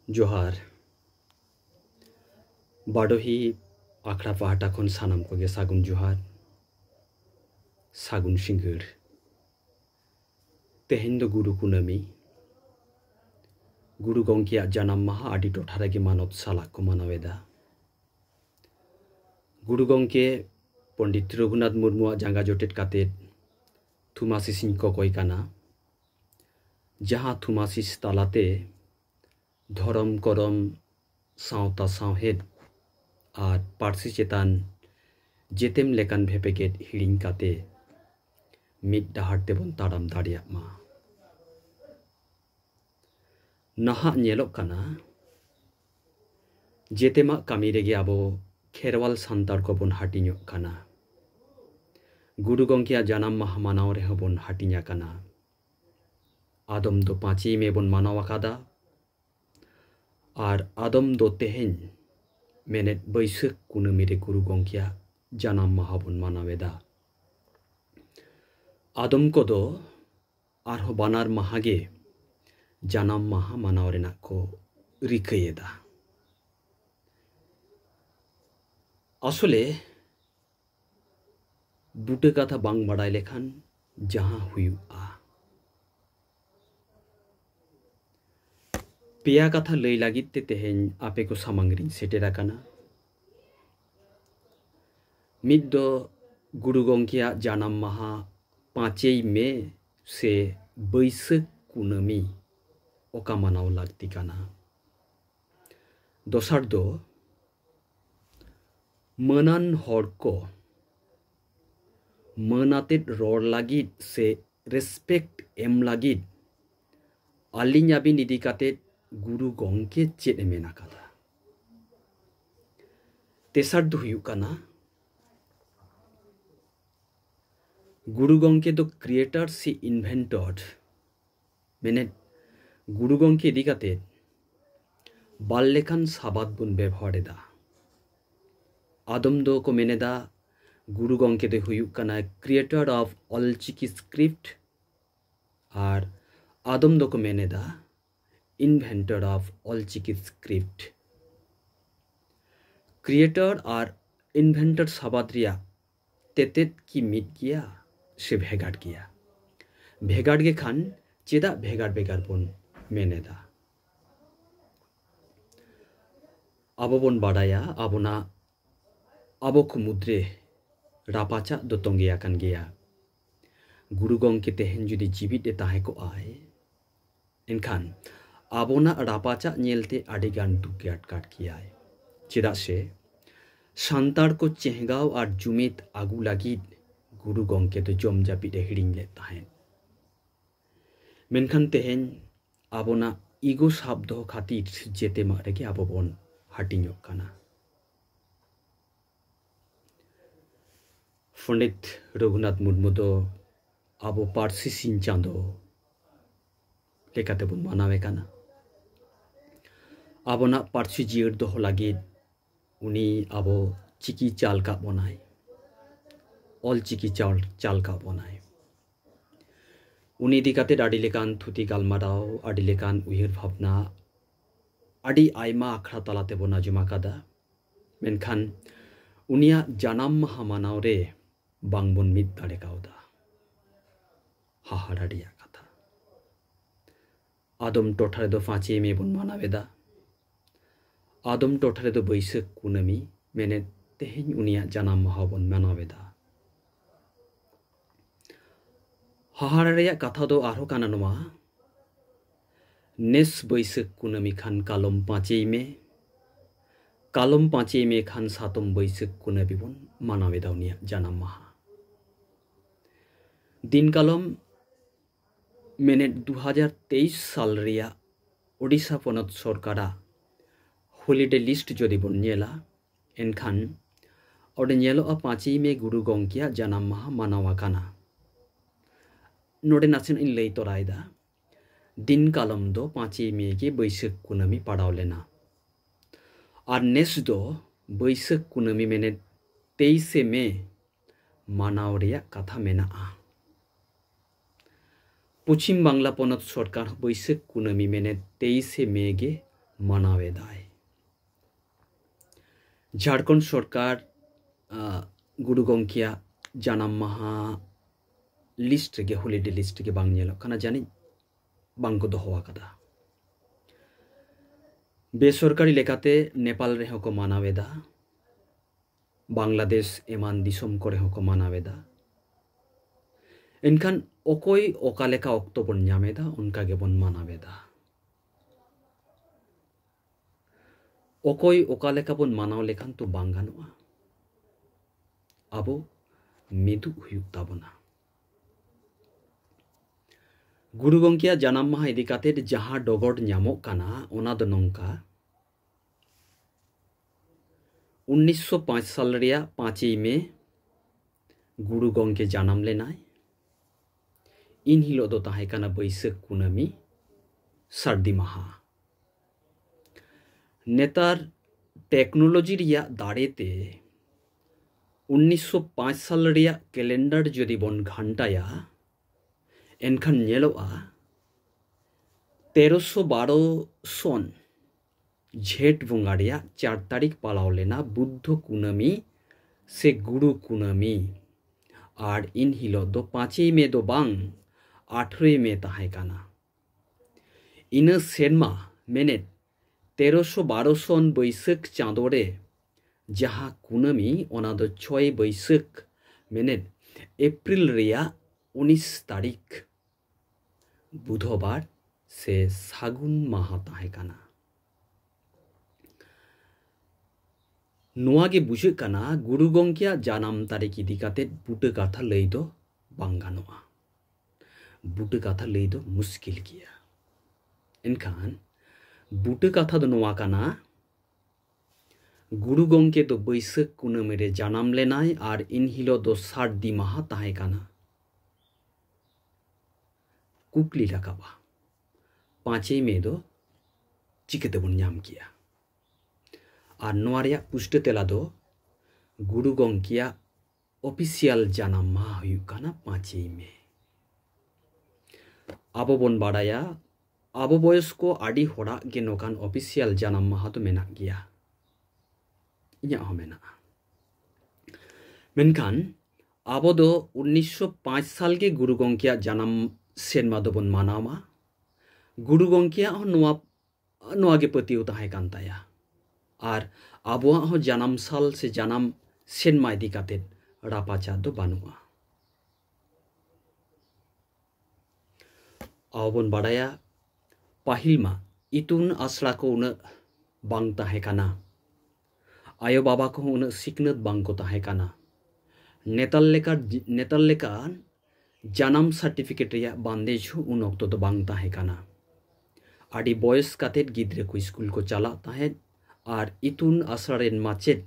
ᱡᱚᱦᱟᱨ ᱵᱟᱰᱚᱦᱤ ᱟᱠᱷᱲᱟ ᱯᱟᱦᱴᱟ ᱠᱷᱚᱱ ᱥᱟᱱᱟᱢ ᱠᱚᱜᱮ ᱥᱟᱹᱜᱩᱱ ᱡᱚᱦᱟᱨ ᱥᱟᱹᱜᱩᱱ ᱥᱤᱸᱜᱟᱹᱲ ᱛᱮᱦᱮᱧ ᱫᱚ ᱜᱩᱨᱩ ᱠᱩᱱᱟᱹᱢᱤ ᱜᱩᱨᱩ ᱜᱚᱢᱠᱮᱭᱟᱜ ᱡᱟᱱᱟᱢ ᱢᱟᱦᱟ ᱟᱹᱰᱤ ᱴᱚᱴᱷᱟ ᱨᱮᱜᱮ ᱢᱟᱱᱚᱛ ᱥᱟᱞᱟᱜ ᱠᱚ ᱢᱟᱱᱟᱣᱮᱫᱟ ᱜᱩᱨᱩ ᱜᱚᱢᱠᱮ ᱯᱚᱸᱰᱤᱛ ᱨᱚᱜᱷᱩᱱᱟᱛᱷ ᱢᱩᱨᱢᱩᱣᱟᱜ ᱡᱟᱸᱜᱟ ᱡᱚᱴᱮᱫ ᱠᱟᱛᱮᱫ ᱛᱷᱩᱢᱟᱥᱤᱥᱤᱧ ᱠᱚᱠᱚᱭ ᱠᱟᱱᱟ ᱡᱟᱦᱟᱸ ᱛᱷᱩᱢᱟᱥᱤᱥ ᱛᱟᱞᱟᱛᱮ ᱫᱷᱚᱨᱚᱢ ᱠᱚᱨᱚᱢ ᱥᱟᱶᱛᱟ ᱥᱟᱶᱦᱮᱫ ᱟᱨ ᱯᱟᱹᱨᱥᱤ ᱪᱮᱛᱟᱱ ᱡᱮᱛᱮᱢ ᱞᱮᱠᱟᱱ ᱵᱷᱮᱯᱮᱜᱮᱫ ᱦᱤᱲᱤᱧ ᱠᱟᱛᱮ ᱢᱤᱫ ᱰᱟᱦᱟᱨ ᱛᱮᱵᱚᱱ ᱛᱟᱲᱟᱢ ᱫᱟᱲᱮᱭᱟᱜ ᱢᱟ ᱱᱟᱦᱟᱜ ᱧᱮᱞᱚᱜ ᱠᱟᱱᱟ ᱡᱮᱛᱮᱢᱟᱜ ᱠᱟᱹᱢᱤ ᱨᱮᱜᱮ ᱟᱵᱚ ᱠᱷᱮᱨᱣᱟᱞ ᱥᱟᱱᱛᱟᱲ ᱠᱚᱵᱚᱱ ᱦᱟᱹᱴᱤᱧᱚᱜ ᱠᱟᱱᱟ ᱜᱩᱨᱩ ᱜᱚᱢᱠᱮᱭᱟᱜ ᱡᱟᱱᱟᱢ ᱢᱟᱦᱟ ᱢᱟᱱᱟᱣ ᱨᱮᱦᱚᱸ ᱵᱚᱱ ᱦᱟᱹᱴᱤᱧ ᱟᱠᱟᱱᱟ ᱟᱫᱚᱢ ᱫᱚ ᱯᱟᱸᱪᱮᱭ ᱢᱮ ᱵᱚᱱ ᱢᱟᱱᱟᱣ ᱟᱠᱟᱫᱟ ᱟᱨ ᱟᱫᱚᱢ ᱫᱚ ᱛᱮᱦᱮᱧ ᱢᱮᱱᱮᱫ ᱵᱟᱹᱭᱥᱟᱹᱠᱷ ᱠᱩᱱᱟᱹᱢᱤ ᱨᱮ ᱜᱩᱨᱩ ᱜᱚᱢᱠᱮᱭᱟᱜ ᱡᱟᱱᱟᱢ ᱢᱟᱦᱟ ᱵᱚᱱ ᱢᱟᱱᱟᱣᱮᱫᱟ ᱟᱫᱚᱢ ᱠᱚᱫᱚ ᱟᱨᱦᱚᱸ ᱵᱟᱱᱟᱨ ᱢᱟᱦᱟ ᱜᱮ ᱡᱟᱱᱟᱢ ᱢᱟᱦᱟ ᱢᱟᱱᱟᱣ ᱨᱮᱱᱟᱜ ᱠᱚ ᱨᱤᱠᱟᱹᱭᱮᱫᱟ ᱟᱥᱚᱞᱮ ᱵᱩᱴᱟᱹ ᱠᱟᱛᱷᱟ ᱵᱟᱝ ᱵᱟᱰᱟᱭ ᱞᱮᱠᱷᱟᱱ ᱡᱟᱦᱟᱸ ᱦᱩᱭᱩᱜᱼᱟ ᱯᱮᱭᱟ ᱠᱟᱛᱷᱟ ᱞᱟᱹᱭ ᱞᱟᱹᱜᱤᱫ ᱛᱮ ᱛᱮᱦᱮᱧ ᱟᱯᱮ ᱠᱚ ᱥᱟᱢᱟᱝ ᱨᱤᱧ ᱥᱮᱴᱮᱨ ᱟᱠᱟᱱᱟ ᱢᱤᱫ ᱫᱚ ᱜᱩᱨᱩ ᱜᱚᱢᱠᱮᱭᱟᱜ ᱡᱟᱱᱟᱢ ᱢᱟᱦᱟ ᱯᱟᱸᱪᱮᱭ ᱢᱮ ᱥᱮ ᱵᱟᱹᱭᱥᱟᱹᱠᱷ ᱠᱩᱱᱟᱹᱢᱤ ᱚᱠᱟ ᱢᱟᱱᱟᱣ ᱞᱟᱹᱠᱛᱤ ᱠᱟᱱᱟ ᱫᱚᱥᱟᱨ ᱫᱚ ᱢᱟᱹᱱᱟᱱ ᱦᱚᱲ ᱠᱚ ᱢᱟᱹᱱ ᱟᱛᱮᱫ ᱨᱚᱲ ᱞᱟᱹᱜᱤᱫ ᱥᱮ ᱨᱮᱥᱯᱮᱠᱴ ᱮᱢ ᱞᱟᱹᱜᱤᱫ ᱟᱹᱞᱤᱧ ᱟᱹᱵᱤᱱ ᱤᱫᱤ ᱠᱟᱛᱮᱫ ᱜᱩᱨᱩ ᱜᱚᱢᱠᱮ ᱪᱮᱫ ᱮ ᱢᱮᱱ ᱟᱠᱟᱫᱟ ᱛᱮᱥᱟᱨ ᱫᱚ ᱦᱩᱭᱩᱜ ᱠᱟᱱᱟ ᱜᱩᱨᱩ ᱜᱚᱢᱠᱮ ᱫᱚ ᱠᱨᱤᱭᱮᱴᱟᱨ ᱥᱮ ᱤᱱᱵᱷᱮᱱᱴᱚᱨ ᱢᱮᱱᱮᱫ ᱜᱩᱨᱩ ᱜᱚᱢᱠᱮ ᱤᱫᱤ ᱠᱟᱛᱮ ᱵᱟᱨ ᱞᱮᱠᱟᱱ ᱥᱟᱵᱟᱫ ᱵᱚᱱ ᱵᱮᱵᱚᱦᱟᱨ ᱮᱫᱟ ᱟᱫᱚᱢ ᱫᱚᱠᱚ ᱢᱮᱱᱮᱫᱟ ᱜᱩᱨᱩ ᱜᱚᱢᱠᱮ ᱫᱚᱭ ᱦᱩᱭᱩᱜ ᱠᱟᱱᱟ ᱠᱨᱤᱭᱮᱴᱚᱨ ᱚᱯᱷ ᱚᱞᱪᱤᱠᱤ ᱥᱠᱨᱤᱯᱴ ᱟᱨ ᱟᱫᱚᱢ ᱫᱚᱠᱚ ᱢᱮᱱᱮᱫᱟ inventor of Ol Chiki script creator R inventor ᱥᱟᱵᱟᱫ ᱨᱮᱭᱟᱜ ᱛᱮᱛᱮᱫ ᱠᱤ ᱢᱤᱫ ᱜᱮᱭᱟ ᱥᱮ ᱵᱷᱮᱜᱟᱨ ᱜᱮᱭᱟ? ᱵᱷᱮᱜᱟᱨ ᱜᱮ ᱠᱷᱟᱱ ᱪᱮᱫᱟᱜ ᱵᱷᱮᱜᱟᱨ ᱵᱷᱮᱜᱟᱨ ᱵᱚᱱ ᱢᱮᱱ ᱮᱫᱟ? ᱟᱵᱚ ᱵᱚᱱ ᱵᱟᱰᱟᱭᱟ ᱟᱵᱚᱱᱟᱜ ᱟᱵᱚ ᱠᱚ ᱢᱩᱫᱽᱨᱮ ᱨᱟᱯᱟᱪᱟᱜ ᱫᱚ ᱛᱚᱸᱜᱮ ᱟᱠᱟᱱ ᱜᱮᱭᱟ᱾ ᱜᱩᱨᱩ ᱜᱚᱢᱠᱮ ᱛᱮᱦᱮᱧ ᱡᱩᱫᱤ ᱡᱤᱣᱤᱫ ᱮ ᱛᱟᱦᱮᱸ ᱠᱚᱜᱼᱟᱭ ᱮᱱᱠᱷᱟᱱ ᱟᱵᱚᱱᱟᱜ ᱨᱟᱯᱟᱪᱟᱜ ᱧᱮᱞᱛᱮ ᱟᱹᱰᱤ ᱜᱟᱱ ᱫᱩᱠ ᱜᱮ ᱟᱴᱠᱟᱨ ᱠᱮᱭᱟᱭ ᱪᱮᱫᱟᱜ ᱥᱮ ᱥᱟᱱᱛᱟᱲ ᱠᱚ ᱪᱮᱦᱜᱟᱣ ᱟᱨ ᱡᱩᱢᱤᱫ ᱟᱹᱜᱩ ᱞᱟᱹᱜᱤᱫ ᱜᱩᱨᱩ ᱜᱚᱢᱠᱮ ᱫᱚ ᱡᱚᱢ ᱡᱟᱹᱯᱤᱫ ᱮ ᱦᱤᱲᱤᱧ ᱞᱮᱫ ᱛᱟᱦᱮᱸᱫ ᱢᱮᱱᱠᱷᱟᱱ ᱛᱮᱦᱮᱧ ᱟᱵᱚᱱᱟᱜ ᱤᱜᱳ ᱥᱟᱵ ᱫᱚᱦᱚ ᱠᱷᱟᱹᱛᱤᱨ ᱡᱮᱛᱮᱢᱟᱜ ᱨᱮᱜᱮ ᱟᱵᱚ ᱵᱚᱱ ᱦᱟᱹᱴᱤᱧᱚᱜ ᱠᱟᱱᱟ ᱯᱚᱱᱰᱤᱛ ᱨᱚᱜᱷᱩᱱᱟᱛᱷ ᱢᱩᱨᱢᱩ ᱫᱚ ᱟᱵᱚ ᱯᱟᱹᱨᱥᱤ ᱥᱤᱧ ᱪᱟᱸᱫᱚ ᱞᱮᱠᱟᱛᱮ ᱵᱚᱱ ᱢᱟᱱᱟᱣᱮ ᱠᱟᱱᱟ ᱟᱵᱚᱱᱟᱜ ᱯᱟᱹᱨᱥᱤ ᱡᱤᱭᱟᱹᱲ ᱫᱚᱦᱚ ᱞᱟᱹᱜᱤᱫ ᱩᱱᱤ ᱟᱵᱚ ᱪᱤᱠᱤ ᱪᱟᱞ ᱠᱟᱜ ᱵᱚᱱᱟᱭ ᱚᱞ ᱪᱤᱠᱤ ᱪᱟᱞ ᱪᱟᱞ ᱠᱟᱜ ᱵᱚᱱᱟᱭ ᱩᱱᱤ ᱤᱫᱤ ᱠᱟᱛᱮ ᱟᱹᱰᱤ ᱞᱮᱠᱟᱱ ᱛᱷᱩᱛᱤ ᱜᱟᱞᱢᱟᱨᱟᱣ ᱟᱹᱰᱤ ᱞᱮᱠᱟᱱ ᱩᱭᱦᱟᱹᱨ ᱵᱷᱟᱵᱽᱱᱟ ᱟᱹᱰᱤ ᱟᱭᱢᱟ ᱟᱠᱷᱲᱟ ᱛᱟᱞᱟ ᱛᱮᱵᱚᱱ ᱟᱸᱡᱚᱢ ᱟᱠᱟᱫᱟ ᱢᱮᱱᱠᱷᱟᱱ ᱩᱱᱤᱭᱟᱜ ᱡᱟᱱᱟᱢ ᱢᱟᱦᱟ ᱢᱟᱱᱟᱣ ᱨᱮ ᱵᱟᱝ ᱵᱚᱱ ᱢᱤᱫ ᱫᱟᱲᱮ ᱠᱟᱣᱫᱟ ᱦᱟᱦᱟᱲᱟ ᱨᱮᱭᱟᱜ ᱠᱟᱛᱷᱟ ᱟᱫᱚᱢ ᱴᱚᱴᱷᱟ ᱨᱮᱫᱚ ᱯᱟᱸᱪᱮᱭ ᱢᱮ ᱵᱚᱱ ᱢᱟᱱᱟᱣᱮᱫᱟ ᱟᱫᱚᱢ ᱴᱚᱴᱷᱟ ᱨᱮᱫᱚ ᱵᱟᱹᱭᱥᱟᱹᱠᱷ ᱠᱩᱱᱟᱹᱢᱤ ᱢᱮᱱᱮᱫ ᱛᱮᱦᱮᱧ ᱩᱱᱤᱭᱟᱜ ᱡᱟᱱᱟᱢ ᱢᱟᱦᱟ ᱵᱚᱱ ᱢᱟᱱᱟᱣᱮᱫᱟ ᱦᱟᱦᱟᱲᱟ ᱨᱮᱭᱟᱜ ᱠᱟᱛᱷᱟ ᱫᱚ ᱟᱨᱦᱚᱸ ᱠᱟᱱᱟ ᱱᱚᱣᱟ ᱱᱮᱥ ᱵᱟᱹᱭᱥᱟᱹᱠᱷ ᱠᱩᱱᱟᱹᱢᱤ ᱠᱷᱟᱱ ᱠᱟᱞᱚᱢ ᱯᱟᱸᱪᱮᱭ ᱢᱮ ᱠᱟᱞᱚᱢ ᱯᱟᱸᱪᱮᱭ ᱢᱮ ᱠᱷᱟᱱ ᱥᱟᱛᱚᱢ ᱵᱟᱹᱭᱥᱟᱹᱠᱷ ᱠᱩᱱᱟᱹᱢᱤ ᱵᱚᱱ ᱢᱟᱱᱟᱣ ᱮᱫᱟ ᱩᱱᱤᱭᱟᱜ ᱡᱟᱱᱟᱢ ᱢᱟᱦᱟ ᱫᱤᱱ ᱠᱟᱞᱚᱢ ᱢᱮᱱᱮᱫ ᱫᱩ ᱦᱟᱡᱟᱨ ᱛᱮᱭᱤᱥ ᱥᱟᱞ ᱨᱮᱭᱟᱜ ᱳᱰᱤᱥᱟ ᱯᱚᱱᱚᱛ ᱥᱚᱨᱠᱟᱨᱟᱜ ᱦᱚᱞᱤᱰᱮ ᱞᱤᱥᱴ ᱡᱩᱫᱤ ᱵᱚᱱ ᱧᱮᱞᱟ ᱮᱱᱠᱷᱟᱱ ᱚᱸᱰᱮ ᱧᱮᱞᱚᱜᱼᱟ ᱯᱟᱸᱪᱮᱭ ᱢᱮ ᱜᱩᱨᱩ ᱜᱚᱢᱠᱮᱭᱟᱜ ᱡᱟᱱᱟᱢ ᱢᱟᱦᱟ ᱢᱟᱱᱟᱣ ᱟᱠᱟᱱᱟ ᱱᱚᱰᱮ ᱱᱟᱥᱮᱱᱟᱜ ᱤᱧ ᱞᱟᱹᱭ ᱛᱚᱨᱟᱭᱮᱫᱟ ᱫᱤᱱ ᱠᱟᱞᱚᱢ ᱫᱚ ᱯᱟᱸᱪᱮᱭ ᱢᱮ ᱜᱮ ᱵᱟᱹᱭᱥᱟᱹᱠᱷ ᱠᱩᱱᱟᱹᱢᱤ ᱯᱟᱲᱟᱣ ᱞᱮᱱᱟ ᱟᱨ ᱱᱮᱥ ᱫᱚ ᱵᱟᱹᱭᱥᱟᱹᱠᱷ ᱠᱩᱱᱟᱹᱢᱤ ᱢᱮᱱᱮᱫ ᱛᱮᱭᱤᱥᱮ ᱢᱮ ᱢᱟᱱᱟᱣ ᱨᱮᱭᱟᱜ ᱠᱟᱛᱷᱟ ᱢᱮᱱᱟᱜᱼᱟ ᱯᱚᱪᱷᱤᱢ ᱵᱟᱝᱞᱟ ᱯᱚᱱᱚᱛ ᱥᱚᱨᱠᱟᱨ ᱵᱟᱹᱭᱥᱟᱹᱠᱷ ᱠᱩᱱᱟᱹᱢᱤ ᱢᱮᱱᱮᱫ ᱛᱮᱭᱤᱥᱮ ᱢᱮ ᱜᱮ ᱢᱟᱱᱟᱣᱮᱫᱟᱭ ᱡᱷᱟᱲᱠᱷᱚᱸᱰ ᱥᱚᱨᱠᱟᱨ ᱜᱩᱨᱩ ᱜᱚᱢᱠᱮᱭᱟᱜ ᱡᱟᱱᱟᱢ ᱢᱟᱦᱟ ᱞᱤᱥᱴ ᱨᱮᱜᱮ ᱦᱚᱞᱤᱰᱮ ᱞᱤᱥᱴ ᱨᱮᱜᱮ ᱵᱟᱝ ᱧᱮᱞᱚᱜ ᱠᱟᱱᱟ ᱡᱟᱹᱱᱤᱡ ᱵᱟᱝᱠᱚ ᱫᱚᱦᱚ ᱟᱠᱟᱫᱟ ᱵᱮᱥᱚᱨᱠᱟᱨᱤ ᱞᱮᱠᱟᱛᱮ ᱱᱮᱯᱟᱞ ᱨᱮᱦᱚᱸ ᱠᱚ ᱢᱟᱱᱟᱣᱮᱫᱟ ᱵᱟᱝᱞᱟᱫᱮᱥ ᱮᱢᱟᱱ ᱫᱤᱥᱚᱢ ᱠᱚᱨᱮ ᱦᱚᱸᱠᱚ ᱢᱟᱱᱟᱣᱮᱫᱟ ᱮᱱᱠᱷᱟᱱ ᱚᱠᱚᱭ ᱚᱠᱟ ᱞᱮᱠᱟ ᱚᱠᱛᱚ ᱵᱚᱱ ᱧᱟᱢᱮᱫᱟ ᱚᱱᱠᱟ ᱜᱮᱵᱚᱱ ᱢᱟᱱᱟᱣᱮᱫᱟ ᱚᱠᱚᱭ ᱚᱠᱟ ᱞᱮᱠᱟ ᱵᱚᱱ ᱢᱟᱱᱟᱣ ᱞᱮᱠᱷᱟᱱ ᱛᱚ ᱵᱟᱝ ᱜᱟᱱᱚᱜᱼᱟ ᱟᱵᱚ ᱢᱤᱫᱩᱜ ᱦᱩᱭᱩᱜ ᱛᱟᱵᱚᱱᱟ ᱜᱩᱨᱩ ᱜᱚᱢᱠᱮᱭᱟᱜ ᱡᱟᱱᱟᱢ ᱢᱟᱦᱟ ᱤᱫᱤ ᱠᱟᱛᱮᱫ ᱡᱟᱦᱟᱸ ᱰᱚᱜᱚᱨ ᱧᱟᱢᱚᱜ ᱠᱟᱱᱟ ᱚᱱᱟ ᱫᱚ ᱱᱚᱝᱠᱟ ᱩᱱᱤᱥᱥᱚ ᱯᱟᱸᱪ ᱥᱟᱞ ᱨᱮᱭᱟᱜ ᱯᱟᱸᱪᱮᱭ ᱢᱮ ᱜᱩᱨᱩ ᱜᱚᱢᱠᱮ ᱡᱟᱱᱟᱢ ᱞᱮᱱᱟᱭ ᱤᱱ ᱦᱤᱞᱳᱜ ᱫᱚ ᱛᱟᱦᱮᱸ ᱠᱟᱱᱟ ᱵᱟᱹᱭᱥᱟᱹᱠᱷ ᱠᱩᱱᱟᱹᱢᱤ ᱥᱟᱹᱨᱫᱤ ᱢᱟᱦᱟ ᱱᱮᱛᱟᱨ ᱴᱮᱠᱱᱳᱞᱚᱡᱤ ᱨᱮᱭᱟᱜ ᱫᱟᱲᱮᱛᱮ ᱩᱱᱤᱥᱥᱚ ᱯᱟᱸᱪ ᱥᱟᱞ ᱨᱮᱭᱟᱜ ᱠᱮᱞᱮᱱᱰᱟᱨ ᱡᱩᱫᱤ ᱵᱚᱱ ᱜᱷᱟᱱᱴᱟᱭᱟ ᱮᱱᱠᱷᱟᱱ ᱧᱮᱞᱚᱜᱼᱟ ᱛᱮᱨᱚᱥᱚ ᱵᱟᱨᱚ ᱥᱚᱱ ᱡᱷᱮᱸᱴ ᱵᱚᱸᱜᱟ ᱨᱮᱭᱟᱜ ᱪᱟᱨ ᱛᱟᱹᱨᱤᱠᱷ ᱯᱟᱞᱟᱣ ᱞᱮᱱᱟ ᱵᱩᱫᱽᱫᱷᱚ ᱠᱩᱱᱟᱹᱢᱤ ᱥᱮ ᱜᱩᱨᱩ ᱠᱩᱱᱟᱹᱢᱤ ᱟᱨ ᱤᱱ ᱦᱤᱞᱳᱜ ᱫᱚ ᱯᱟᱸᱪᱮᱭ ᱢᱮ ᱫᱚ ᱵᱟᱝ ᱟᱴᱷᱨᱚᱭ ᱢᱮ ᱛᱟᱦᱮᱸ ᱠᱟᱱᱟ ᱤᱱᱟᱹ ᱥᱮᱨᱢᱟ ᱢᱮᱱᱮᱫ ᱛᱮᱨᱚᱥᱚ ᱵᱟᱨᱚ ᱥᱚᱱ ᱵᱟᱹᱭᱥᱟᱹᱠᱷ ᱪᱟᱸᱫᱳ ᱨᱮ ᱡᱟᱦᱟᱸ ᱠᱩᱱᱟᱹᱢᱤ ᱚᱱᱟ ᱫᱚ ᱪᱷᱚᱭ ᱵᱟᱹᱭᱥᱟᱹᱠᱷ ᱢᱮᱱᱮᱫ ᱮᱯᱨᱤᱞ ᱨᱮᱭᱟᱜ ᱩᱱᱤᱥ ᱛᱟᱹᱨᱤᱠᱷ ᱵᱩᱫᱷᱚᱵᱟᱨ ᱥᱮ ᱥᱟᱹᱜᱩᱱ ᱢᱟᱦᱟ ᱛᱟᱦᱮᱸ ᱠᱟᱱᱟ ᱱᱚᱣᱟ ᱜᱮ ᱵᱩᱡᱷᱟᱹᱜ ᱠᱟᱱᱟ ᱜᱩᱨᱩ ᱜᱚᱢᱠᱮᱭᱟᱜ ᱡᱟᱱᱟᱢ ᱛᱟᱹᱨᱤᱠᱷ ᱤᱫᱤ ᱠᱟᱛᱮ ᱵᱩᱴᱟᱹ ᱠᱟᱛᱷᱟ ᱞᱟᱹᱭ ᱫᱚ ᱵᱟᱝ ᱜᱟᱱᱚᱜᱼᱟ ᱵᱩᱴᱟᱹ ᱠᱟᱛᱷᱟ ᱞᱟᱹᱭ ᱫᱚ ᱢᱩᱥᱠᱤᱞ ᱜᱮᱭᱟ ᱮᱱᱠᱷᱟᱱ ᱵᱩᱴᱟᱹ ᱠᱟᱛᱷᱟ ᱫᱚ ᱱᱚᱣᱟ ᱠᱟᱱᱟ ᱜᱩᱨᱩ ᱜᱚᱢᱠᱮ ᱫᱚ ᱵᱟᱹᱭᱥᱟᱹᱠᱷ ᱠᱩᱱᱟᱹᱢᱤ ᱨᱮ ᱡᱟᱱᱟᱢ ᱞᱮᱱᱟᱭ ᱟᱨ ᱤᱱ ᱦᱤᱞᱳᱜ ᱫᱚ ᱥᱟᱹᱨᱫᱤ ᱢᱟᱦᱟ ᱛᱟᱦᱮᱸ ᱠᱟᱱᱟ ᱠᱩᱠᱞᱤ ᱨᱟᱠᱟᱵᱼᱟ ᱯᱟᱸᱪᱮᱭ ᱢᱮ ᱫᱚ ᱪᱤᱠᱟᱹ ᱛᱮᱵᱚᱱ ᱧᱟᱢ ᱠᱮᱜᱼᱟ ᱟᱨ ᱱᱚᱣᱟ ᱨᱮᱭᱟᱜ ᱯᱩᱥᱴᱟᱹ ᱛᱮᱞᱟ ᱫᱚ ᱜᱩᱨᱩ ᱜᱚᱢᱠᱮᱭᱟᱜ ᱚᱯᱷᱤᱥᱤᱭᱟᱞ ᱡᱟᱱᱟᱢ ᱢᱟᱦᱟ ᱦᱩᱭᱩᱜ ᱠᱟᱱᱟ ᱯᱟᱸᱪᱮᱭ ᱢᱮ ᱟᱵᱚ ᱵᱚᱱ ᱵᱟᱲᱟᱭᱟ ᱟᱵᱚ ᱵᱚᱭᱚᱥ ᱠᱚ ᱟᱹᱰᱤ ᱦᱚᱲᱟᱜ ᱜᱮ ᱱᱚᱝᱠᱟᱱ ᱚᱯᱷᱤᱥᱤᱭᱟᱞ ᱡᱟᱱᱟᱢ ᱢᱟᱦᱟ ᱫᱚ ᱢᱮᱱᱟᱜ ᱜᱮᱭᱟ ᱤᱧᱟᱹᱜ ᱦᱚᱸ ᱢᱮᱱᱟᱜᱼᱟ ᱢᱮᱱᱠᱷᱟᱱ ᱟᱵᱚ ᱫᱚ ᱩᱱᱤᱥᱥᱚ ᱯᱟᱸᱪ ᱥᱟᱞ ᱜᱮ ᱜᱩᱨᱩ ᱜᱚᱝᱠᱮᱭᱟᱜ ᱡᱟᱱᱟᱢ ᱥᱮᱨᱢᱟ ᱫᱚᱵᱚᱱ ᱢᱟᱱᱟᱣᱟ ᱜᱩᱨᱩ ᱜᱚᱝᱠᱮᱭᱟᱜ ᱦᱚᱸ ᱱᱚᱣᱟ ᱱᱚᱣᱟ ᱜᱮ ᱯᱟᱹᱛᱭᱟᱹᱣ ᱛᱟᱦᱮᱸ ᱠᱟᱱ ᱛᱟᱭᱟ ᱟᱨ ᱟᱵᱚᱣᱟᱜ ᱦᱚᱸ ᱡᱟᱱᱟᱢ ᱥᱟᱞ ᱥᱮ ᱡᱟᱱᱟᱢ ᱥᱮᱨᱢᱟ ᱤᱫᱤ ᱠᱟᱛᱮ ᱨᱟᱯᱟᱪᱟ ᱫᱚ ᱵᱟᱹᱱᱩᱜᱼᱟ ᱟᱵᱚ ᱵᱚᱱ ᱵᱟᱰᱟᱭᱟ ᱯᱟᱹᱦᱤᱞ ᱢᱟ ᱤᱛᱩᱱ ᱟᱥᱲᱟ ᱠᱚ ᱩᱱᱟᱹᱜ ᱵᱟᱝ ᱛᱟᱦᱮᱸ ᱠᱟᱱᱟ ᱟᱭᱳ ᱵᱟᱵᱟ ᱠᱚᱦᱚᱸ ᱩᱱᱟᱹᱜ ᱥᱤᱠᱷᱱᱟᱹᱛ ᱵᱟᱝᱠᱚ ᱛᱟᱦᱮᱸ ᱠᱟᱱᱟ ᱱᱮᱛᱟᱨ ᱞᱮᱠᱟ ᱱᱮᱛᱟᱨ ᱞᱮᱠᱟ ᱡᱟᱱᱟᱢ ᱥᱟᱨᱴᱤᱯᱷᱤᱠᱮᱴ ᱨᱮᱭᱟᱜ ᱵᱟᱱᱫᱮᱡᱽ ᱦᱚᱸ ᱩᱱ ᱚᱠᱛᱚ ᱫᱚ ᱵᱟᱝ ᱛᱟᱦᱮᱸ ᱠᱟᱱᱟ ᱟᱹᱰᱤ ᱵᱚᱭᱮᱥ ᱠᱟᱛᱮᱫ ᱜᱤᱫᱽᱨᱟᱹ ᱠᱚ ᱥᱠᱩᱞ ᱠᱚ ᱪᱟᱞᱟᱜ ᱛᱟᱦᱮᱸᱫ ᱟᱨ ᱤᱛᱩᱱ ᱟᱥᱲᱟ ᱨᱮᱱ ᱢᱟᱪᱮᱫ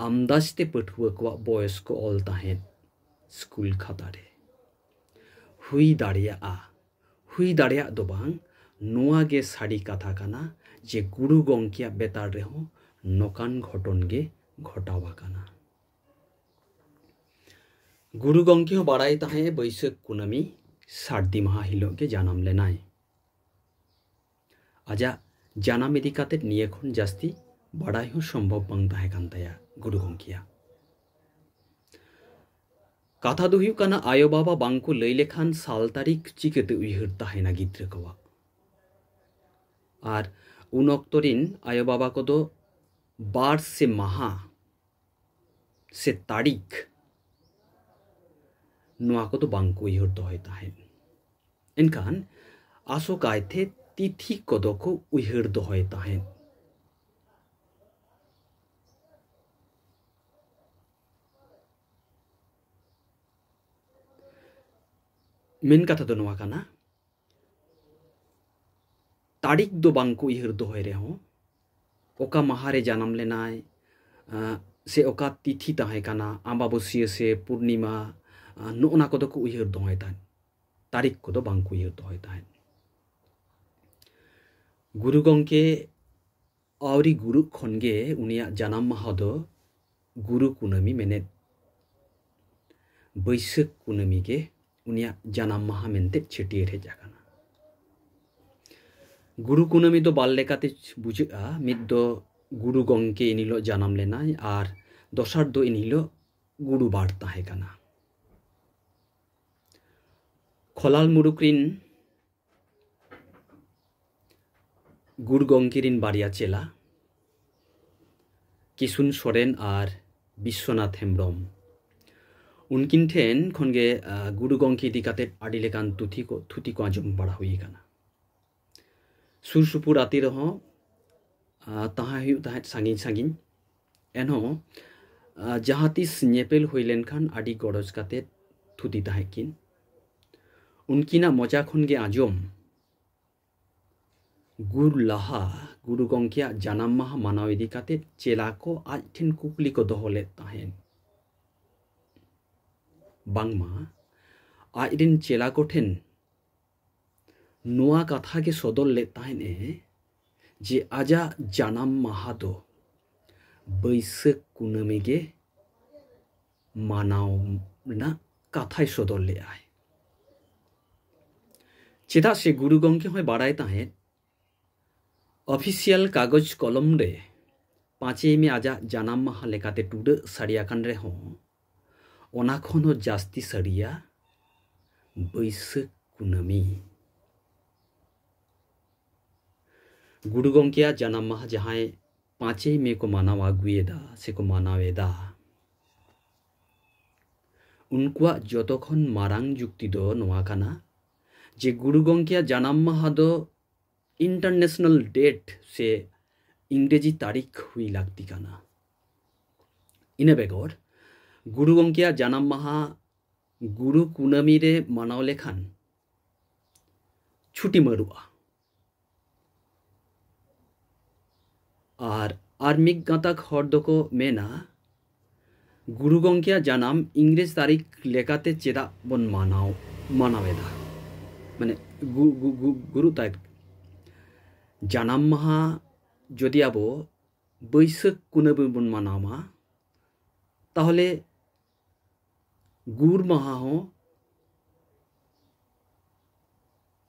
ᱟᱢᱫᱟᱡᱽ ᱛᱮ ᱯᱟᱹᱴᱷᱩᱣᱟᱹ ᱠᱚᱣᱟᱜ ᱵᱚᱭᱚᱥ ᱠᱚ ᱚᱞ ᱛᱟᱦᱮᱸᱫ ᱥᱠᱩᱞ ᱠᱷᱟᱛᱟ ᱨᱮ ᱦᱩᱭ ᱫᱟᱲᱮᱭᱟᱜᱼᱟ ᱦᱩᱭ ᱫᱟᱲᱮᱭᱟᱜ ᱫᱚ ᱵᱟᱝ ᱱᱚᱣᱟ ᱜᱮ ᱥᱟᱹᱨᱤ ᱠᱟᱛᱷᱟ ᱠᱟᱱᱟ ᱡᱮ ᱜᱩᱨᱩ ᱜᱚᱝᱠᱮᱭᱟᱜ ᱵᱮᱛᱟᱲ ᱨᱮᱦᱚᱸ ᱱᱚᱠᱟᱱ ᱜᱷᱚᱴᱚᱱ ᱜᱮ ᱜᱷᱚᱴᱟᱣ ᱟᱠᱟᱱᱟ᱾ ᱜᱩᱨᱩ ᱜᱚᱝᱠᱮ ᱦᱚᱸ ᱵᱟᱲᱟᱭ ᱛᱟᱦᱮᱸ ᱮ ᱵᱟᱹᱭᱥᱟᱹᱠᱷ ᱠᱩᱱᱟᱹᱢᱤ ᱥᱟᱹᱨᱫᱤ ᱢᱟᱦᱟ ᱦᱤᱞᱚᱜ ᱜᱮ ᱡᱟᱱᱟᱢ ᱞᱮᱱᱟᱭ᱾ ᱟᱡᱟᱜ ᱡᱟᱱᱟᱢ ᱤᱫᱤ ᱠᱟᱛᱮ ᱱᱤᱭᱟᱹ ᱠᱷᱚᱱ ᱡᱟᱹᱥᱛᱤ ᱵᱟᱰᱟᱭ ᱦᱚᱸ ᱥᱚᱢᱵᱷᱚᱵ ᱵᱟᱝ ᱛᱟᱦᱮᱸ ᱠᱟᱱ ᱛᱟᱭᱟ ᱜᱩᱨᱩ ᱜᱚᱢᱠᱮᱭᱟᱜ ᱠᱟᱛᱷᱟ ᱫᱚ ᱦᱩᱭᱩᱜ ᱠᱟᱱᱟ ᱟᱭᱳ ᱵᱟᱵᱟ ᱵᱟᱝ ᱠᱚ ᱞᱟᱹᱭ ᱞᱮᱠᱷᱟᱱ ᱥᱟᱞ ᱛᱟᱹᱨᱤᱠᱷ ᱪᱤᱠᱟᱹᱛᱮ ᱩᱭᱦᱟᱹᱨ ᱛᱟᱦᱮᱱᱟ ᱜᱤᱫᱽᱨᱟᱹ ᱠᱚᱣᱟᱜ ᱟᱨ ᱩᱱ ᱚᱠᱛᱚ ᱨᱤᱱ ᱟᱭᱳ ᱵᱟᱵᱟ ᱠᱚᱫᱚ ᱵᱟᱨ ᱥᱮ ᱢᱟᱦᱟ ᱥᱮ ᱛᱟᱹᱨᱤᱠᱷ ᱱᱚᱣᱟ ᱠᱚᱫᱚ ᱵᱟᱝᱠᱚ ᱩᱭᱦᱟᱹᱨ ᱫᱚᱦᱚᱭ ᱛᱟᱦᱮᱸᱫ ᱮᱱᱠᱷᱟᱱ ᱟᱥᱚᱠᱟᱭᱛᱮ ᱛᱤᱛᱷᱤ ᱠᱚᱫᱚ ᱠᱚ ᱩᱭᱦᱟᱹᱨ ᱫᱚᱦᱚᱭ ᱛᱟᱦᱮᱸᱫ ᱢᱮᱱ ᱠᱟᱛᱷᱟ ᱫᱚ ᱱᱚᱣᱟ ᱠᱟᱱᱟ ᱛᱟᱹᱨᱤᱠᱷ ᱫᱚ ᱵᱟᱝ ᱠᱚ ᱩᱭᱦᱟᱹᱨ ᱫᱚᱦᱚᱭ ᱨᱮᱦᱚᱸ ᱚᱠᱟ ᱢᱟᱦᱟ ᱨᱮ ᱡᱟᱱᱟᱢ ᱞᱮᱱᱟᱭ ᱥᱮ ᱚᱠᱟ ᱛᱤᱛᱷᱤ ᱛᱟᱦᱮᱸ ᱠᱟᱱᱟ ᱟᱢᱵᱟᱵᱟᱹᱥᱭᱟᱹ ᱥᱮ ᱯᱩᱨᱱᱤᱢᱟ ᱱᱚᱜᱼᱚ ᱱᱟ ᱠᱚᱫᱚ ᱠᱚ ᱩᱭᱦᱟᱹᱨ ᱫᱚᱦᱚᱭ ᱛᱟᱦᱮᱸᱫ ᱛᱟᱹᱨᱤᱠᱷ ᱠᱚᱫᱚ ᱵᱟᱝ ᱠᱚ ᱩᱭᱦᱟᱹᱨ ᱫᱚᱦᱚᱭ ᱛᱟᱦᱮᱸᱫ ᱜᱩᱨᱩ ᱜᱚᱢᱠᱮ ᱟᱹᱣᱨᱤ ᱜᱩᱨᱩᱜ ᱠᱷᱚᱱ ᱜᱮ ᱩᱱᱤᱭᱟᱜ ᱡᱟᱱᱟᱢ ᱢᱟᱦᱟ ᱫᱚ ᱜᱩᱨᱩ ᱠᱩᱱᱟᱹᱢᱤ ᱢᱮᱱᱮᱫ ᱵᱟᱹᱭᱥᱟᱹᱠᱷ ᱠᱩᱱᱟᱹᱢᱤ ᱜᱮ ᱩᱱᱤᱭᱟᱜ ᱡᱟᱱᱟᱢ ᱢᱟᱦᱟ ᱢᱮᱱᱛᱮ ᱪᱷᱟᱹᱴᱭᱟᱹᱨ ᱦᱮᱡ ᱟᱠᱟᱱᱟ ᱜᱩᱨᱩ ᱠᱩᱱᱟᱹᱢᱤ ᱫᱚ ᱵᱟᱨ ᱞᱮᱠᱟᱛᱮ ᱵᱩᱡᱷᱟᱹᱜᱼᱟ ᱢᱤᱫ ᱫᱚ ᱜᱩᱨᱩ ᱜᱚᱢᱠᱮ ᱤᱱ ᱦᱤᱞᱳᱜ ᱡᱟᱱᱟᱢ ᱞᱮᱱᱟᱭ ᱟᱨ ᱫᱚᱥᱟᱨ ᱫᱚ ᱤᱱ ᱦᱤᱞᱳᱜ ᱜᱩᱨᱩ ᱵᱟᱨ ᱛᱟᱦᱮᱸ ᱠᱟᱱᱟ ᱠᱷᱚᱞᱟᱞ ᱢᱩᱨᱩᱠ ᱨᱤᱱ ᱜᱩᱨᱩ ᱜᱚᱝᱠᱮ ᱨᱤᱱ ᱵᱟᱨᱭᱟ ᱪᱮᱞᱟ ᱠᱤᱥᱩᱱ ᱥᱚᱨᱮᱱ ᱟᱨ ᱵᱤᱥᱥᱚᱱᱟᱛᱷ ᱦᱮᱢᱵᱨᱚᱢ ᱩᱱᱠᱤᱱ ᱴᱷᱮᱱ ᱠᱷᱚᱱ ᱜᱮ ᱜᱩᱨᱩ ᱜᱚᱝᱠᱮ ᱤᱫᱤ ᱠᱟᱛᱮ ᱟᱹᱰᱤ ᱞᱮᱠᱟᱱ ᱛᱩᱛᱷᱤ ᱠᱚ ᱛᱷᱩᱛᱤ ᱠᱚ ᱟᱸᱡᱚᱢ ᱵᱟᱲᱟ ᱦᱩᱭ ᱟᱠᱟᱱᱟ ᱥᱩᱨ ᱥᱩᱯᱩᱨ ᱟᱛᱮ ᱨᱮᱦᱚᱸ ᱛᱟᱦᱮᱸ ᱦᱩᱭᱩᱜ ᱛᱟᱦᱮᱸᱫ ᱥᱟᱺᱜᱤᱧ ᱥᱟᱺᱜᱤᱧ ᱮᱱᱦᱚᱸ ᱡᱟᱦᱟᱸ ᱛᱤᱥ ᱧᱮᱯᱮᱞ ᱦᱩᱭ ᱞᱮᱱᱠᱷᱟᱱ ᱟᱹᱰᱤ ᱜᱚᱨᱚᱡᱽ ᱠᱟᱛᱮ ᱛᱷᱩᱛᱤ ᱛᱟᱦᱮᱸᱫ ᱠᱤᱱ ᱩᱱᱠᱤᱱᱟᱜ ᱢᱚᱪᱟ ᱠᱷᱚᱱ ᱜᱮ ᱟᱸᱡᱚᱢ ᱜᱩᱨ ᱞᱟᱦᱟ ᱜᱩᱨᱩ ᱜᱚᱢᱠᱮᱭᱟᱜ ᱡᱟᱱᱟᱢ ᱢᱟᱦᱟ ᱢᱟᱱᱟᱣ ᱤᱫᱤ ᱠᱟᱛᱮ ᱪᱮᱞᱟ ᱠᱚ ᱟᱡ ᱴᱷᱮᱱ ᱠᱩᱠᱞᱤ ᱠᱚ ᱫᱚᱦᱚ ᱞᱮᱫ ᱛᱟᱦᱮᱸᱫ ᱵᱟᱝᱢᱟ ᱟᱡ ᱨᱮᱱ ᱪᱮᱞᱟ ᱠᱚᱴᱷᱮᱱ ᱱᱚᱣᱟ ᱠᱟᱛᱷᱟ ᱜᱮ ᱥᱚᱫᱚᱨ ᱞᱮᱫ ᱛᱟᱦᱮᱸᱫ ᱮ ᱡᱮ ᱟᱡᱟᱜ ᱡᱟᱱᱟᱢ ᱢᱟᱦᱟ ᱫᱚ ᱵᱟᱹᱭᱥᱟᱹᱠᱷ ᱠᱩᱱᱟᱹᱢᱤ ᱜᱮ ᱢᱟᱱᱟᱣ ᱨᱮᱱᱟᱜ ᱠᱟᱛᱷᱟᱭ ᱥᱚᱫᱚᱨ ᱞᱮᱫᱟᱭ ᱪᱮᱫᱟᱜ ᱥᱮ ᱜᱩᱨᱩ ᱜᱚᱢᱠᱮ ᱦᱚᱸᱭ ᱵᱟᱲᱟᱭ ᱛᱟᱦᱮᱸᱫ ᱚᱯᱷᱤᱥᱤᱭᱟᱞ ᱠᱟᱜᱚᱡᱽ ᱠᱚᱞᱚᱢ ᱨᱮ ᱯᱟᱸᱪᱮᱭ ᱢᱮ ᱟᱡᱟᱜ ᱡᱟᱱᱟᱢ ᱢᱟᱦᱟᱸ ᱞᱮᱠᱟᱛᱮ ᱴᱩᱰᱟᱹᱜ ᱥᱟᱹᱨᱤ ᱟᱠᱟᱱ ᱨᱮᱦᱚᱸ ᱚᱱᱟ ᱠᱷᱚᱱ ᱦᱚᱸ ᱡᱟᱹᱥᱛᱤ ᱥᱟᱹᱨᱤᱭᱟ ᱵᱟᱹᱭᱥᱟᱹᱠᱷ ᱠᱩᱱᱟᱹᱢᱤ᱾ ᱜᱩᱨᱩ ᱜᱚᱢᱠᱮᱭᱟᱜ ᱡᱟᱱᱟᱢ ᱢᱟᱦᱟᱸ ᱡᱟᱦᱟᱸᱭ ᱯᱟᱸᱪᱮᱭ ᱢᱮ ᱠᱚ ᱢᱟᱱᱟᱣ ᱟᱹᱜᱩᱭᱮᱫᱟ ᱥᱮ ᱠᱚ ᱢᱟᱱᱟᱣ ᱮᱫᱟ ᱩᱱᱠᱩᱣᱟᱜ ᱡᱚᱛᱚ ᱠᱷᱚᱱ ᱢᱟᱨᱟᱝ ᱡᱩᱠᱛᱤ ᱫᱚ ᱱᱚᱣᱟ ᱠᱟᱱᱟ ᱡᱮ ᱜᱩᱨᱩ ᱜᱚᱢᱠᱮᱭᱟᱜ ᱡᱟᱱᱟᱢ ᱢᱟᱦᱟ ᱫᱚ ᱤᱱᱴᱟᱨᱱᱮᱥᱱᱟᱞ ᱰᱮᱴ ᱥᱮ ᱤᱝᱨᱮᱡᱤ ᱛᱟᱹᱨᱤᱠᱷ ᱦᱩᱭ ᱞᱟᱹᱠᱛᱤ ᱠᱟᱱᱟ ᱤᱱᱟᱹ ᱵᱮᱜᱚᱨ ᱜᱩᱨᱩ ᱜᱚᱢᱠᱮᱭᱟᱜ ᱡᱟᱱᱟᱢ ᱢᱟᱦᱟ ᱜᱩᱨᱩ ᱠᱩᱱᱟᱹᱢᱤ ᱨᱮ ᱢᱟᱱᱟᱣ ᱞᱮᱠᱷᱟᱱ ᱪᱷᱩᱴᱤ ᱢᱟᱹᱨᱩᱜᱼᱟ ᱟᱨ ᱟᱨ ᱢᱤᱫ ᱜᱟᱛᱟᱠ ᱦᱚᱲ ᱫᱚᱠᱚ ᱢᱮᱱᱟ ᱜᱩᱨᱩ ᱜᱚᱢᱠᱮᱭᱟᱜ ᱡᱟᱱᱟᱢ ᱤᱝᱨᱮᱡᱽ ᱛᱟᱹᱨᱤᱠᱷ ᱞᱮᱠᱟᱛᱮ ᱪᱮᱫᱟᱜ ᱵᱚᱱ ᱢᱟᱱᱟᱣ ᱢᱟᱱᱟᱣᱮᱫᱟ ᱢᱟᱱᱮ ᱜᱩᱨᱩ ᱛᱟᱭ ᱡᱟᱱᱟᱢ ᱢᱟᱦᱟ ᱡᱩᱫᱤ ᱟᱵᱚ ᱵᱟᱹᱭᱥᱟᱹᱠᱷ ᱠᱩᱱᱟᱹᱢᱤ ᱵᱚᱱ ᱢᱟᱱᱟᱣᱟ ᱛᱟᱦᱚᱞᱮ ᱜᱩᱨ ᱢᱟᱦᱟ ᱦᱚᱸ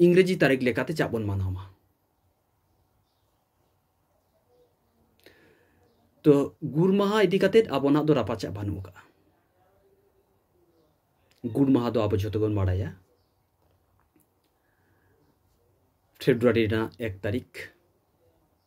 ᱤᱝᱨᱮᱡᱤ ᱛᱟᱹᱨᱤᱠᱷ ᱞᱮᱠᱟᱛᱮ ᱪᱟᱜ ᱵᱚᱱ ᱢᱟᱱᱟᱣᱟ ᱛᱚ ᱜᱩᱨ ᱢᱟᱦᱟ ᱤᱫᱤ ᱠᱟᱛᱮ ᱟᱵᱚᱱᱟᱜ ᱫᱚ ᱨᱟᱯᱟᱪᱟᱜ ᱵᱟᱹᱱᱩᱜ ᱟᱠᱟᱫᱼᱟ ᱜᱩᱨ ᱢᱟᱦᱟ ᱫᱚ ᱟᱵᱚ ᱡᱷᱚᱛᱚ ᱵᱚᱱ ᱵᱟᱲᱟᱭᱟ ᱯᱷᱮᱵᱨᱩᱣᱟᱨᱤ ᱨᱮᱱᱟᱜ ᱮᱠ ᱛᱟᱹᱨᱤᱠᱷ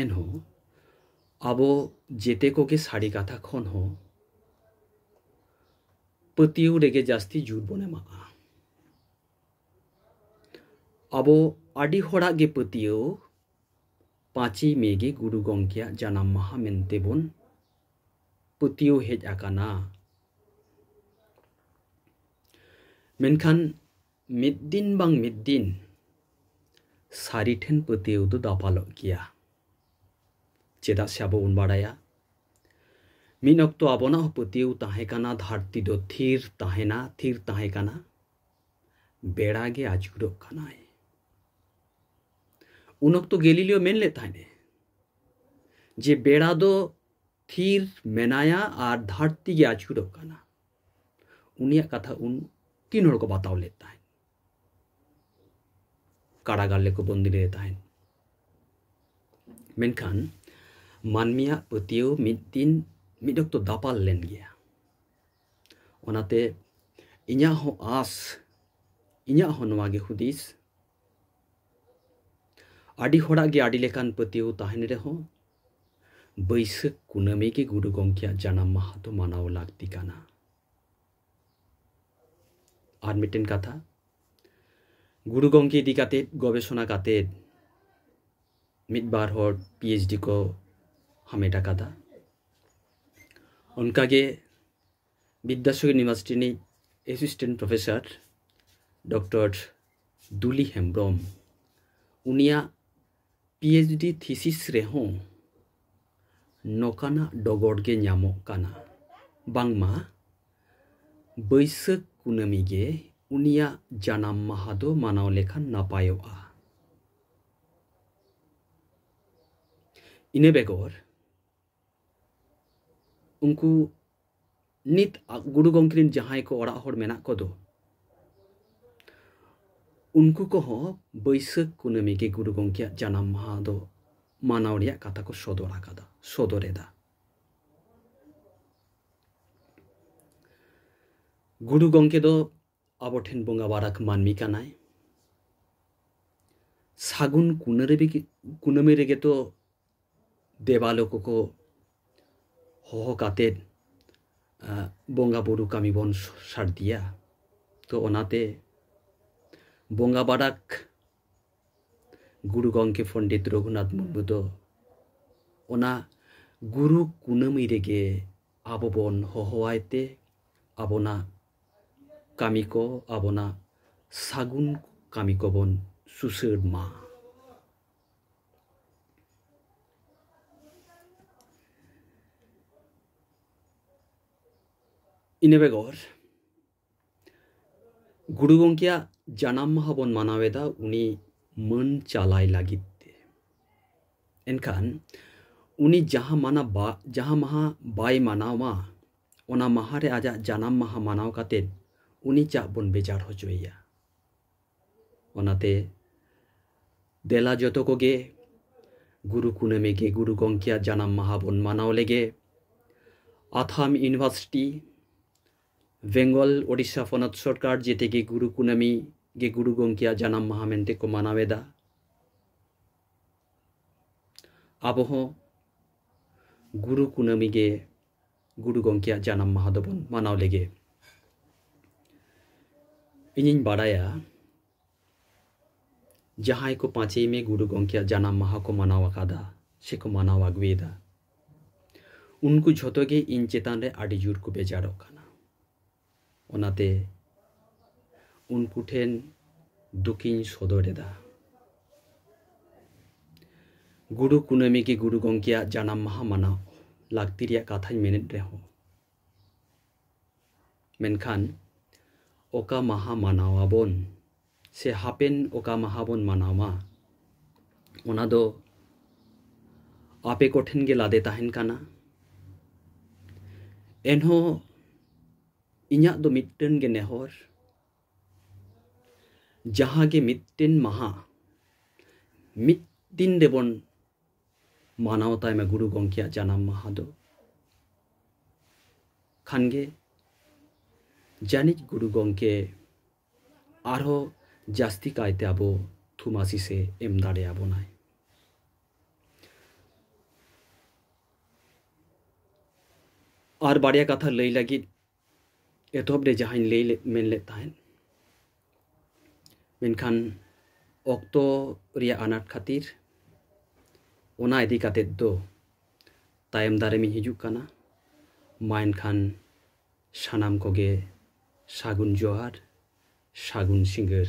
ᱮᱱᱦᱚᱸ ᱟᱵᱚ ᱡᱮᱛᱮ ᱠᱚᱜᱮ ᱥᱟᱹᱨᱤ ᱠᱟᱛᱷᱟ ᱠᱷᱚᱱ ᱦᱚᱸ ᱯᱟᱹᱛᱭᱟᱹᱣ ᱨᱮᱜᱮ ᱡᱟᱹᱥᱛᱤ ᱡᱳᱨ ᱵᱚᱱ ᱮᱢᱟᱜᱼᱟ ᱟᱵᱚ ᱟᱹᱰᱤ ᱦᱚᱲᱟᱜ ᱜᱮ ᱯᱟᱹᱛᱭᱟᱹᱣ ᱯᱟᱸᱪᱮᱭ ᱢᱮ ᱜᱮ ᱜᱩᱨᱩ ᱜᱚᱢᱠᱮᱭᱟᱜ ᱡᱟᱱᱟᱢ ᱢᱟᱦᱟ ᱢᱮᱱᱛᱮ ᱵᱚᱱ ᱯᱟᱹᱛᱭᱟᱹᱣ ᱦᱮᱡ ᱟᱠᱟᱱᱟ ᱢᱮᱱᱠᱷᱟᱱ ᱢᱤᱫ ᱫᱤᱱ ᱵᱟᱝ ᱢᱤᱫ ᱫᱤᱱ ᱥᱟᱹᱨᱤ ᱴᱷᱮᱱ ᱯᱟᱹᱛᱭᱟᱹᱣ ᱫᱚ ᱫᱟᱯᱟᱞᱚᱜ ᱜᱮᱭᱟ ᱪᱮᱫᱟᱜ ᱥᱮ ᱟᱵᱚ ᱵᱚᱱ ᱵᱟᱲᱟᱭᱟ ᱢᱤᱫ ᱚᱠᱛᱚ ᱟᱵᱚᱱᱟᱜ ᱦᱚᱸ ᱯᱟᱹᱛᱭᱟᱹᱣ ᱛᱟᱦᱮᱸ ᱠᱟᱱᱟ ᱫᱷᱟᱹᱨᱛᱤ ᱫᱚ ᱛᱷᱤᱨ ᱛᱟᱦᱮᱱᱟ ᱛᱷᱤᱨ ᱛᱟᱦᱮᱸ ᱠᱟᱱᱟ ᱵᱮᱲᱟ ᱜᱮ ᱟᱹᱪᱩᱨᱚᱜ ᱠᱟᱱᱟᱭ ᱩᱱ ᱚᱠᱛᱚ ᱜᱮᱞᱤᱞᱤᱭᱳ ᱢᱮᱱ ᱞᱮᱫ ᱛᱟᱦᱮᱸᱱᱮ ᱡᱮ ᱵᱮᱲᱟ ᱫᱚ ᱛᱷᱤᱨ ᱢᱮᱱᱟᱭᱟ ᱟᱨ ᱫᱷᱟᱹᱨᱛᱤ ᱜᱮ ᱟᱹᱪᱩᱨᱚᱜ ᱠᱟᱱᱟ ᱩᱱᱤᱭᱟᱜ ᱠᱟᱛᱷᱟ ᱩᱱ ᱛᱤᱱ ᱦᱚᱲ ᱠᱚ ᱵᱟᱛᱟᱣ ᱞᱮᱫ ᱛᱟᱦᱮᱸᱫ ᱠᱟᱨᱟᱜᱟᱨ ᱞᱮᱠᱚ ᱵᱚᱱᱫᱤ ᱞᱮᱫᱮ ᱛᱟᱦᱮᱸᱫ ᱢᱮᱱᱠᱷᱟᱱ ᱢᱟᱹᱱᱢᱤᱭᱟᱜ ᱯᱟᱹᱛᱭᱟᱹᱣ ᱢᱤᱫ ᱫᱤᱱ ᱢᱤᱫ ᱚᱠᱛᱚ ᱫᱟᱯᱟᱞ ᱞᱮᱱ ᱜᱮᱭᱟ ᱚᱱᱟᱛᱮ ᱤᱧᱟᱹᱜ ᱦᱚᱸ ᱟᱸᱥ ᱤᱧᱟᱹᱜ ᱦᱚᱸ ᱱᱚᱣᱟᱜᱮ ᱦᱩᱫᱤᱥ ᱟᱹᱰᱤ ᱦᱚᱲᱟᱜ ᱜᱮ ᱟᱹᱰᱤ ᱞᱮᱠᱟᱱ ᱯᱟᱹᱛᱭᱟᱹᱣ ᱛᱟᱦᱮᱱ ᱨᱮᱦᱚᱸ ᱵᱟᱹᱭᱥᱟᱹᱠᱷ ᱠᱩᱱᱟᱹᱢᱤ ᱜᱮ ᱜᱩᱨᱩ ᱜᱚᱢᱠᱮᱭᱟᱜ ᱡᱟᱱᱟᱢ ᱢᱟᱦᱟ ᱫᱚ ᱢᱟᱱᱟᱣ ᱞᱟᱹᱠᱛᱤ ᱠᱟᱱᱟ ᱟᱨ ᱢᱤᱫᱴᱮᱱ ᱠᱟᱛᱷᱟ ᱜᱩᱨᱩ ᱜᱚᱢᱠᱮ ᱤᱫᱤ ᱠᱟᱛᱮᱫ ᱜᱚᱵᱮᱥᱚᱱᱟ ᱠᱟᱛᱮᱫ ᱢᱤᱫ ᱵᱟᱨ ᱦᱚᱲ ᱯᱤᱮᱭᱤᱪᱰᱤ ᱠᱚ ᱦᱟᱢᱮᱴ ᱟᱠᱟᱫᱟ ᱚᱱᱠᱟᱜᱮ ᱵᱤᱫᱽᱫᱟᱥᱚᱨ ᱭᱩᱱᱤᱵᱷᱟᱨᱥᱤᱴᱤ ᱨᱤᱱᱤᱡ assistant professor doctor Duli Hembrom ᱩᱱᱤᱭᱟᱜ ᱯᱤ ᱮᱭᱤᱪ ᱰᱤ ᱛᱷᱤᱥᱤᱥ ᱨᱮᱦᱚᱸ ᱱᱚᱠᱟᱱᱟᱜ ᱰᱚᱜᱚᱨ ᱜᱮ ᱧᱟᱢᱚᱜ ᱠᱟᱱᱟ ᱵᱟᱝᱢᱟ ᱵᱟᱹᱭᱥᱟᱹᱠᱷ ᱠᱩᱱᱟᱹᱢᱤ ᱜᱮ ᱩᱱᱤᱭᱟᱜ ᱡᱟᱱᱟᱢ ᱢᱟᱦᱟ ᱫᱚ ᱢᱟᱱᱟᱣ ᱞᱮᱠᱷᱟᱱ ᱱᱟᱯᱟᱭᱚᱜᱼᱟ ᱤᱱᱟᱹ ᱵᱮᱜᱚᱨ ᱩᱱᱠᱩ ᱱᱤᱛ ᱜᱩᱨᱩ ᱜᱚᱢᱠᱮ ᱨᱮᱱ ᱡᱟᱦᱟᱸᱭ ᱠᱚ ᱚᱲᱟᱜ ᱦᱚᱲ ᱢᱮᱱᱟᱜ ᱠᱚᱫᱚ ᱩᱱᱠᱩ ᱠᱚᱦᱚᱸ ᱵᱟᱹᱭᱥᱟᱹᱠᱷ ᱠᱩᱱᱟᱹᱢᱤ ᱜᱮ ᱜᱩᱨᱩ ᱜᱚᱢᱠᱮᱭᱟᱜ ᱡᱟᱱᱟᱢ ᱢᱟᱦᱟ ᱫᱚ ᱢᱟᱱᱟᱣ ᱨᱮᱭᱟᱜ ᱠᱟᱛᱷᱟ ᱠᱚ ᱥᱚᱫᱚᱨ ᱟᱠᱟᱫᱟ ᱥᱚᱫᱚᱨ ᱮᱫᱟ ᱜᱩᱨᱩ ᱜᱚᱢᱠᱮ ᱫᱚ ᱟᱵᱚ ᱴᱷᱮᱱ ᱵᱚᱸᱜᱟ ᱵᱟᱨᱟᱠ ᱢᱟᱹᱱᱢᱤ ᱠᱟᱱᱟᱭ ᱥᱟᱹᱜᱩᱱ ᱠᱩᱱᱟᱹᱢᱤ ᱠᱩᱱᱟᱹᱢᱤ ᱨᱮᱜᱮ ᱛᱚ ᱫᱮᱵᱟᱞᱳ ᱠᱚᱠᱚ ᱦᱚᱦᱚ ᱠᱟᱛᱮᱫ ᱵᱚᱸᱜᱟ ᱵᱩᱨᱩ ᱠᱟᱹᱢᱤ ᱵᱚᱱ ᱥᱟᱨᱫᱤᱭᱟ ᱛᱚ ᱚᱱᱟᱛᱮ ᱵᱚᱸᱜᱟ ᱵᱟᱲᱟᱠ ᱜᱩᱨᱩ ᱜᱚᱢᱠᱮ ᱯᱚᱱᱰᱤᱛ ᱨᱚᱜᱷᱩᱱᱟᱛᱷ ᱢᱩᱨᱢᱩ ᱫᱚ ᱚᱱᱟ ᱜᱩᱨᱩ ᱠᱩᱱᱟᱹᱢᱤ ᱨᱮᱜᱮ ᱟᱵᱚ ᱵᱚᱱ ᱦᱚᱦᱚᱣᱟᱭ ᱛᱮ ᱟᱵᱚᱱᱟᱜ ᱠᱟᱹᱢᱤ ᱠᱚ ᱟᱵᱚᱱᱟᱜ ᱥᱟᱹᱜᱩᱱ ᱠᱟᱹᱢᱤ ᱠᱚᱵᱚᱱ ᱥᱩᱥᱟᱹᱨ ᱢᱟ ᱤᱱᱟᱹ ᱵᱮᱜᱚᱨ ᱜᱩᱨᱩ ᱜᱚᱢᱠᱮᱭᱟᱜ ᱡᱟᱱᱟᱢ ᱢᱟᱦᱟ ᱵᱚᱱ ᱢᱟᱱᱟᱣᱮᱫᱟ ᱩᱱᱤ ᱢᱟᱹᱱ ᱪᱟᱞᱟᱭ ᱞᱟᱹᱜᱤᱫ ᱛᱮ ᱮᱱᱠᱷᱟᱱ ᱩᱱᱤ ᱡᱟᱦᱟᱸ ᱢᱟᱱᱟ ᱵᱟ ᱡᱟᱦᱟᱸ ᱢᱟᱦᱟ ᱵᱟᱭ ᱢᱟᱱᱟᱣᱟ ᱚᱱᱟ ᱢᱟᱦᱟᱨᱮ ᱟᱡᱟᱜ ᱡᱟᱱᱟᱢ ᱢᱟᱦᱟ ᱢᱟᱱᱟᱣ ᱠᱟᱛᱮᱫ ᱩᱱᱤ ᱪᱟᱜ ᱵᱚᱱ ᱵᱮᱡᱟᱨ ᱦᱚᱪᱚᱭᱮᱭᱟ ᱚᱱᱟᱛᱮ ᱫᱮᱞᱟ ᱡᱚᱛᱚ ᱠᱚᱜᱮ ᱜᱩᱨᱩ ᱠᱩᱱᱟᱹᱢᱤ ᱜᱮ ᱜᱩᱨᱩ ᱜᱚᱢᱠᱮᱭᱟᱜ ᱡᱟᱱᱟᱢ ᱢᱟᱦᱟ ᱵᱚᱱ ᱢᱟᱱᱟᱣ ᱞᱮᱜᱮ ᱟᱛᱷᱟᱢ ᱤᱭᱩᱱᱤᱵᱷᱟᱨᱥᱤᱴᱤ ᱵᱮᱝᱜᱚᱞ ᱳᱰᱤᱥᱟ ᱯᱚᱱᱚᱛ ᱥᱚᱨᱠᱟᱨ ᱡᱮᱛᱮ ᱜᱮ ᱜᱩᱨᱩ ᱠᱩᱱᱟᱹᱢᱤ ᱜᱮ ᱜᱩᱨᱩ ᱜᱚᱢᱠᱮᱭᱟᱜ ᱡᱟᱱᱟᱢ ᱢᱟᱦᱟ ᱢᱮᱱᱛᱮ ᱠᱚ ᱢᱟᱱᱟᱣᱮᱫᱟ ᱟᱵᱚ ᱦᱚᱸ ᱜᱩᱨᱩ ᱠᱩᱱᱟᱹᱢᱤ ᱜᱮ ᱜᱩᱨᱩ ᱜᱚᱢᱠᱮᱭᱟᱜ ᱡᱟᱱᱟᱢ ᱢᱟᱦᱟ ᱫᱚᱵᱚᱱ ᱢᱟᱱᱟᱣ ᱞᱮᱜᱮ ᱤᱧᱤᱧ ᱵᱟᱲᱟᱭᱟ ᱡᱟᱦᱟᱸᱭ ᱠᱚ ᱯᱟᱸᱪᱮᱭ ᱢᱮ ᱜᱩᱨᱩ ᱜᱚᱢᱠᱮᱭᱟᱜ ᱡᱟᱱᱟᱢ ᱢᱟᱦᱟ ᱠᱚ ᱢᱟᱱᱟᱣ ᱟᱠᱟᱫᱟ ᱥᱮᱠᱚ ᱢᱟᱱᱟᱣ ᱟᱹᱜᱩᱭᱮᱫᱟ ᱩᱱᱠᱩ ᱡᱷᱚᱛᱚ ᱜᱮ ᱤᱧ ᱪᱮᱛᱟᱱ ᱨᱮ ᱟᱹᱰᱤ ᱡᱳᱨ ᱠᱚ ᱵᱮᱡᱟᱨᱚᱜ ᱠᱟᱱᱟ ᱚᱱᱟᱛᱮ ᱩᱱᱠᱩ ᱴᱷᱮᱱ ᱫᱩᱠᱤᱧ ᱥᱚᱫᱚᱨ ᱮᱫᱟ ᱜᱩᱨᱩ ᱠᱩᱱᱟᱹᱢᱤ ᱜᱮ ᱜᱩᱨᱩ ᱜᱚᱢᱠᱮᱭᱟᱜ ᱡᱟᱱᱟᱢ ᱢᱟᱦᱟ ᱢᱟᱱᱟᱣ ᱞᱟᱹᱠᱛᱤ ᱨᱮᱭᱟᱜ ᱠᱟᱛᱷᱟᱧ ᱢᱮᱱᱮᱫ ᱨᱮᱦᱚᱸ ᱢᱮᱱᱠᱷᱟᱱ ᱚᱠᱟ ᱢᱟᱦᱟ ᱢᱟᱱᱟᱣ ᱟᱵᱚᱱ ᱥᱮ ᱦᱟᱯᱮᱱ ᱚᱠᱟ ᱢᱟᱦᱟ ᱵᱚᱱ ᱢᱟᱱᱟᱣᱟ ᱚᱱᱟ ᱫᱚ ᱟᱯᱮ ᱠᱚᱴᱷᱮᱱ ᱜᱮ ᱞᱟᱫᱮ ᱛᱟᱦᱮᱱ ᱠᱟᱱᱟ ᱮᱱᱦᱚᱸ ᱤᱧᱟᱹᱜ ᱫᱚ ᱢᱤᱫᱴᱮᱱ ᱜᱮ ᱱᱮᱦᱚᱨ ᱡᱟᱦᱟᱸ ᱜᱮ ᱢᱤᱫᱴᱮᱱ ᱢᱟᱦᱟ ᱢᱤᱫ ᱫᱤᱱ ᱨᱮᱵᱚᱱ ᱢᱟᱱᱟᱣ ᱛᱟᱭᱢᱟ ᱜᱩᱨᱩ ᱜᱚᱢᱠᱮᱭᱟᱜ ᱡᱟᱱᱟᱢ ᱢᱟᱦᱟ ᱫᱚ ᱠᱷᱟᱱ ᱜᱮ ᱡᱟᱹᱱᱤᱡ ᱜᱩᱨᱩ ᱜᱚᱢᱠᱮ ᱟᱨᱦᱚᱸ ᱡᱟᱹᱥᱛᱤ ᱠᱟᱭᱛᱮ ᱟᱵᱚ ᱛᱷᱩᱢᱟᱥᱤᱥ ᱮ ᱮᱢ ᱫᱟᱲᱮᱭᱟᱵᱚᱱᱟᱭ ᱟᱨ ᱵᱟᱨᱭᱟ ᱠᱟᱛᱷᱟ ᱞᱟᱹᱭ ᱞᱟᱹᱜᱤᱫ ᱮᱛᱚᱦᱚᱵ ᱨᱮ ᱡᱟᱦᱟᱸᱧ ᱞᱟᱹᱭ ᱞᱮᱫ ᱢᱮᱱ ᱞᱮᱫ ᱛᱟᱦᱮᱸᱫ ᱢᱮᱱᱠᱷᱟᱱ ᱚᱠᱛᱚ ᱨᱮᱭᱟᱜ ᱟᱱᱟᱴ ᱠᱷᱟᱹᱛᱤᱨ ᱚᱱᱟ ᱤᱫᱤ ᱠᱟᱛᱮᱫ ᱫᱚ ᱛᱟᱭᱚᱢ ᱫᱟᱨᱟᱢᱤᱧ ᱦᱤᱡᱩᱜ ᱠᱟᱱᱟ ᱢᱟ ᱮᱱᱠᱷᱟᱱ ᱥᱟᱱᱟᱢ ᱠᱚᱜᱮ ᱥᱟᱹᱜᱩᱱ ᱡᱚᱦᱟᱨ ᱥᱟᱹᱜᱩᱱ ᱥᱤᱸᱜᱟᱹᱲ᱾